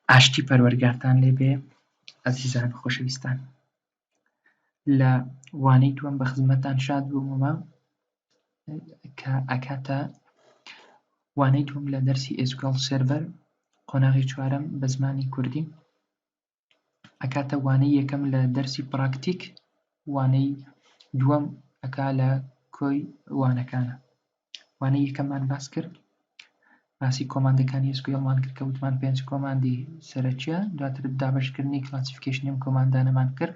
ئاشتی پەروەرگارتان لێ بێ ئەزیزان و خۆشەویستان لە وانەی دووەم بە خزمەتان شاد بوومەوە کە ئەکاتە وانەی دووەم لە دەرسی ئێزگاڵ سێرڤەر قۆناغی چوارەم بە زمانی کوردی ئەکاتە وانەی یەکەم لە دەرسی پراکتیک وانەی دووەم ئەکا لە کۆی وانەکانە وانەی یەکەمان باس کرد باسی کۆماندەکانی SQLمان کرد کە وتمان پێنج کۆماندی سەرەکیە دواتر دابشکردنی کلاسیفیکیشنیم کۆماندانەمان کرد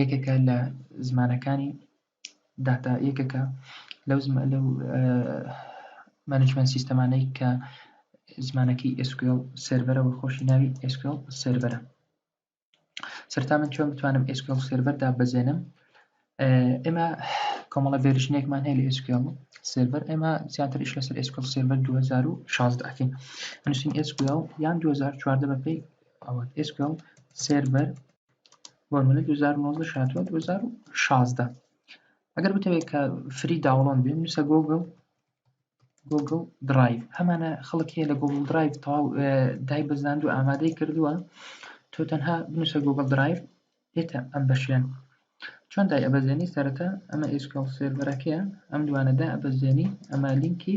یەکێکە لە زمانەکانی داتا یەکێکە لەو لەو مانجمنت سیستەمانەی کە زمانەکەی SQL سربەرەوە خۆشی ناوی SQL سربەرە سەرتا من چۆن بتوانم SQL سربەر دابەزێنم ئێمە کۆمەڵە ڤێرژنێکمان هەیە لە SQL سربەر ئێمە زیاتر ئیش لەسەر SQL سربەر 2016 ئەکەین نووسین SQL یان 2014 بەپی ئەوە SQL سربەر بۆنمونە دوو هەزار و نۆزدە شات دوو هەزار و شازدە ئەگەر بتەوێت کە فری داوڵۆن بێن نووسە گۆگڵ گۆگڵ درایڤ هەمانە خەڵک هەیە لە گۆگڵ درایڤ تەواو دای بەزاند و ئامادەی کردووە تۆ تەنها بنووسە گۆگڵ درایڤ دێتە ئەم بەشیان چۆن دای ئەبەزێنی سەرەتا ئەمە ئیسکڵ سێرڤەرەکەیە ئەم دوانەدا ئەبەزێنی ئەمە لینکی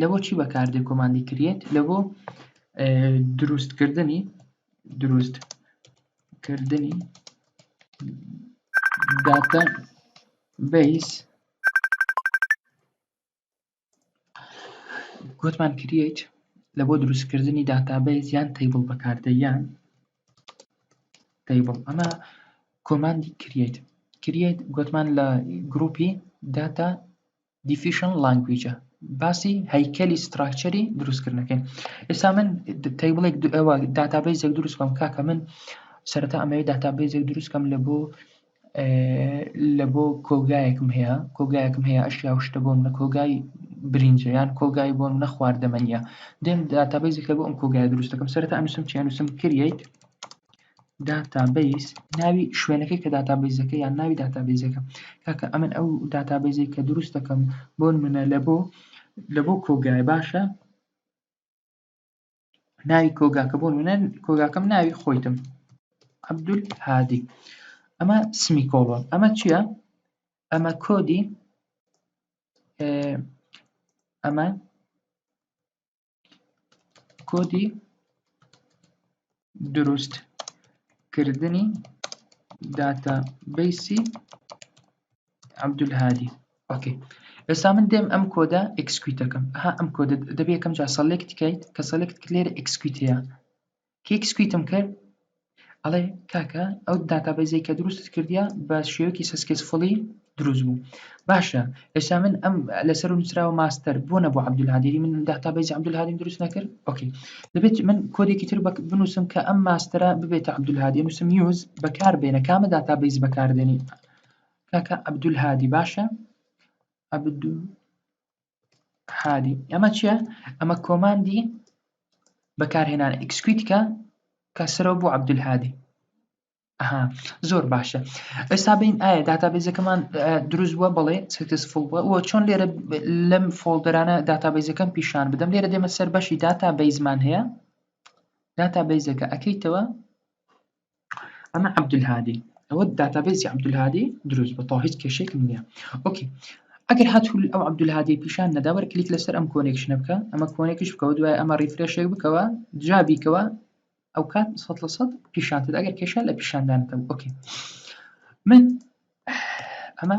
لە بۆ چی بەکاردێ کۆماندی کرێت لە بۆ دروستکردنی دروستکردنی داتا بیس گوتمان کریت لە بۆ دروستکردنی داتابیس یان تیبل بەکاردە یان تیبل ئەمە کۆماندی کریت کریت گوتمان لە گروپی داتا دیفیشن لانگویجە باسی هەیکەلی ستراکچەری دروستکردنەکەی ئێستا من تیبڵێک ئەوە داتابیزێک دروست بکەم کاکە من سەرەتا ئەمەوێت داتابیزێک دروست بکەم لە بۆ لە بۆ کۆگایەکم هەیە کۆگایەکم هەیە ئەشیا و شتە بۆم لە کۆگای برینجە یان کۆگای بۆ منە خواردەمەنیە دێم داتابیزێک لە بۆ ئەم کۆگای دروستەکەم سەرەتا ئەنووسم چیانوسم کریت داتابەیس ناوی شوێنەکەی کە داتابەیزەکە یان ناوی داتابەیزەکە کاکە ئەمن ئەو داتابەیزەی کە دروست دەکەم بۆ منە لە بۆ لە بۆ کۆگای باشە ناوی کۆگاکە بۆ منە کۆگاکەم ناوی خۆیتم عبدول هادی ئەمە سمی کۆڵۆن ئەمە چییە ئەمە کۆدی ئەمە کۆدی دروست کردنی داتا بیسی عبدالهادی ئۆکەی ئێستا من دێم ئەم کۆدە ئەکسکویتەکەم ها ئەم کۆدە دەبێت یەکەم جا سەلێکت کەیت کە سەلێکت لێرە ئەکسکویتەیە کیک سکویتم کرد ئەڵێ کاکە ئەو داتابەیزەی کە دروستت کردیا بە شێوەیەکی سەسکسفڵی دروست بوو باشە ئێستا من ئەم لەسەر و نووسراوە ماستەر بۆ نەبوو عبدولهادیری من داتابەیز عبدولهادیم دروست نەکرد ئۆکی دەبێت من کۆدێکی تر بنووسم کە ئەم ماستەرە ببێتە عبدولهادی نووسم یوز بەکار بێنە کامە داتابەیز بەکاردێنی کاکە عبدولهادی باشە عبدو هادی ئەمە چییە ئەمە کۆماندی بەکارهێنان ئیکسکویتکە کە سەرەوە بۆ عەبدولهادی ئەها زۆر باشە ئێستا بین ئایا داتابێزەکەمان دروست بووە بڵێ سکسفڵ بووە و چۆن لێرە لەم فۆلدەرانە داتابێزەکەم پیشان بدەم لێرە دێمە سەر بەشی داتا بەیزمان هەیە داتا بەیزەکە ئەەکەیتەوە ئەمە عەبدولهادی ئەوە داتابێزی عەبدولهادی دروست بە تا هیچ کێشێکم نییە ئۆکی ئەگەر هاتوو ئەو عەبدولهادی پیشان نەداوەر کلیک لەسەر ئەم کۆنێکشنە بکە ئەمە کۆنێکش بکەوە دوای ئەمە ڕیفرێشێک بکەوە جابیکەوە ئەو کات سە لە سە پیشان ئەگەر کێشە لە پیشاندانەکە ئۆکی من ئەمە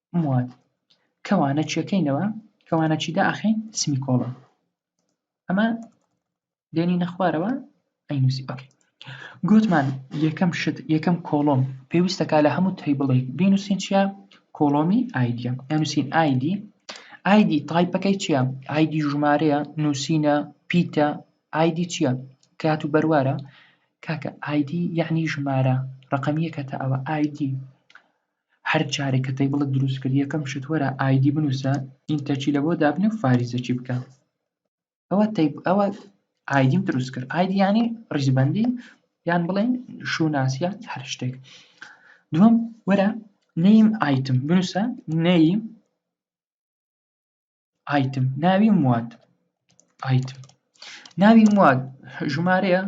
مواد کەوانە چێکەینەوە کەوانە چی داخین سمیکۆڵە ئەمە دێنی نەخوارەوە ئەینوسی ئۆکێ گوتمان یەکەم شت یەکەم کۆڵۆم پێویستەکە لە هەموو تەیبڵێک بینوسین چیە کۆڵۆمی ئایدە یانوسین ئایدی ئایدی تایپەکەی چیە ئایدی ژمارەیە نووسینە پیتە ئایدی چیە کات و بەروارە کاکە ئایدی یعنی ژمارە ڕقمیەکە تا ئەوە ئایدی هەر جارێ کە تەیبڵت دروست کرد یەکەم شت وەرە ئایدی بنووسە ئینتەرچی لە بۆ دابنێ و فاریزەکی بکە ئەوە تەیب ئەوە ئایدیم دروست کرد ئایدیانی ڕیزبندی یان بڵێن شووناسیات هەر شتێک دوم وەرە نیم ئایتم بنووسە نیم ئایتم ناوی مواد ئایتم ناوی مواد ژمارەیە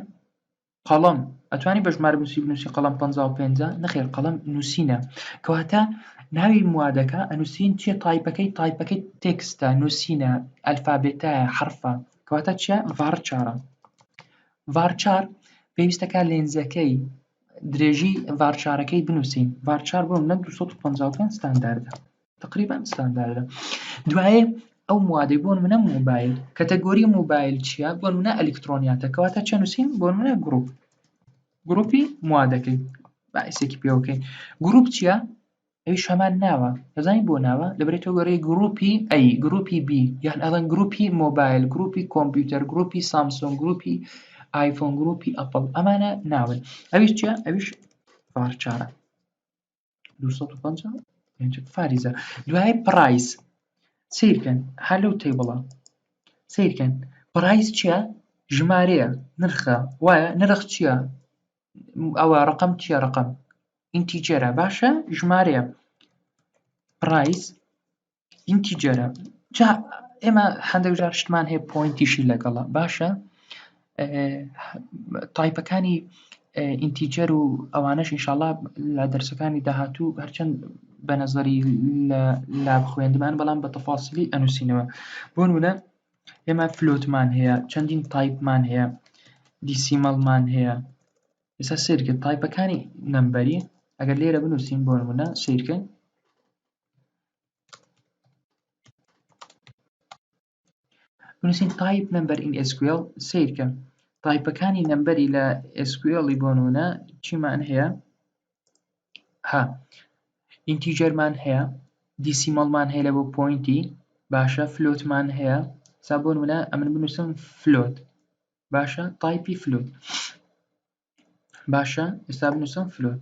قەڵم ئەتوانی بە ژمارە نووسی بنووسی قەڵم 55 نەخێر قەڵم نووسینە کەواتە ناوی موادەکە ئەنووسین چیە تایپەکەی تایپەکەی تێکستە نووسینە ئەلفابێتایە حرفە کەواتە چیە ڤارچارە ڤارچار پێویستەکە لێنزەکەی درێژی ڤارچارەکەی بنووسین ڤارچار بۆم نە 255 ستانداردە تقریبا ستانداردە دوایە ئەو موادەی بۆن منە موبایل کەتەگۆری موبایل چیە بۆن منە ئەلکترۆنیاتە کەواتە چە نووسین بۆن منە گروپ گروپی موادەکەی باسێکی پێوەکەین گروپ چیە ئەویش هەمان ناوە دەزانین بۆ ناوە لەبرێت تۆ گەۆرەی گروپی ئەی گروپی بی یان ئەڵەن گروپی مۆبایل گروپی کۆمپیوتەر گروپی سامسۆن گروپی ئایفۆن گروپی ئەپل ئەمانە ناون ئەویش چیە ئەویش پارچارە فاریزە دوای پڕایز سیرکەن هەر لەو تێبڵە سیرکەن پڕایز چیە ژمارەیە نرخە وایە نرخ چییە ئەوە ڕقم چیە ڕقم ئینتیجێرە باشە ژمارەیە پڕایز ئینتیجەرە جا ئێمە هەندێک جار شتمان هەیە پوینتیشی لەگەڵە باشە تایپەکانی ئینتیجەر و ئەوانەش ئینشاالله لە دەرسەکانی داهاتوو هەرچەند بە نەزەری لا خوێندمان بەڵام بە تەفاسیلی ئەنووسینەوە بۆ نمونە ئێمە فلوتمان هەیە چەندین تایپمان هەیە دیسیمەڵمان هەیە ئێستا سیرکە تایپەکانی نەمبەری ئەگەر لێرە بنووسین بۆ نمونە سیرکە بنووسین تایپ نمبر in SQL سەیرکە تایپەکانی نمبەری لە SQL ی بۆنمونە چیمان هەیە ها ئینتیجەرمان هەیە دیسیمەڵمان هەیە لە بۆ پۆینتی باشە فلوتمان هەیە سا بۆ نمونە ئەمن بنووسم فلوت باشە تایپی فلوت باشە ئێستا بنووسم فلوت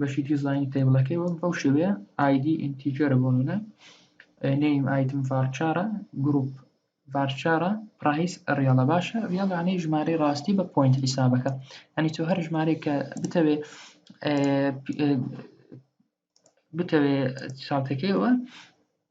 بەشی دیزاینی تەیبڵەکەی وەک بەو شێوەیە ئایدی ئینتیجەرە بۆ منە نیم ئایتم فارچارە گروپ فارچارە پرایس ڕیاڵە باشە ڕیاڵانەی ژمارەی ڕاستی بە پوینت حیسابەکە ئەنی تۆ هەر ژمارەی کە بتەوێ بتەوێ چاوتەکەیەوە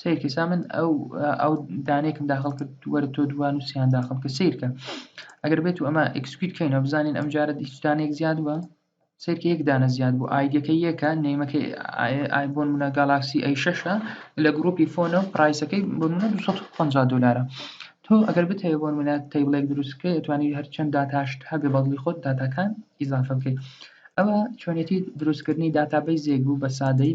سەیرکە سا من ئەو ئەو دانێکم داخڵ کرد وەرە تۆ دووان و سیان داخڵ کە سیرکە ئەگەر بێت و ئەمە ئەکسکویت کەینە بزانین ئەم جارە هیچ دانێک زیاد بە سەیرکە یەک دانە زیاد بوو ئایدەکە یەکە نەیمەکەی ئایبۆن منە گالاکسی ئەی شەشە لە گروپی فۆنە و پرایسەکەی بۆ منە 250 دلارە تۆ ئەگەر بتەوێ بۆ منە تەیبڵێک دروستکە توانی هەرچەند داتاشت هەبێ بەڵی خۆت داتاکان ئیزافە بکەیت ئەوە چۆنێتی دروستکردنی داتابەی زێک بوو بە سادەی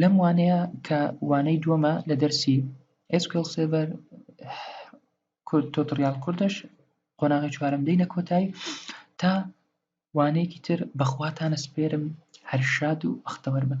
لەم وانەیە کە وانەی دووەمە لە دەرسی SQL Server تۆتڕیال کوردش قۆناغی چوارم دەینە کۆتایی تا وانەیەکی تر بەخواتانە سپێرم هەرشاد و بەختەوەر بن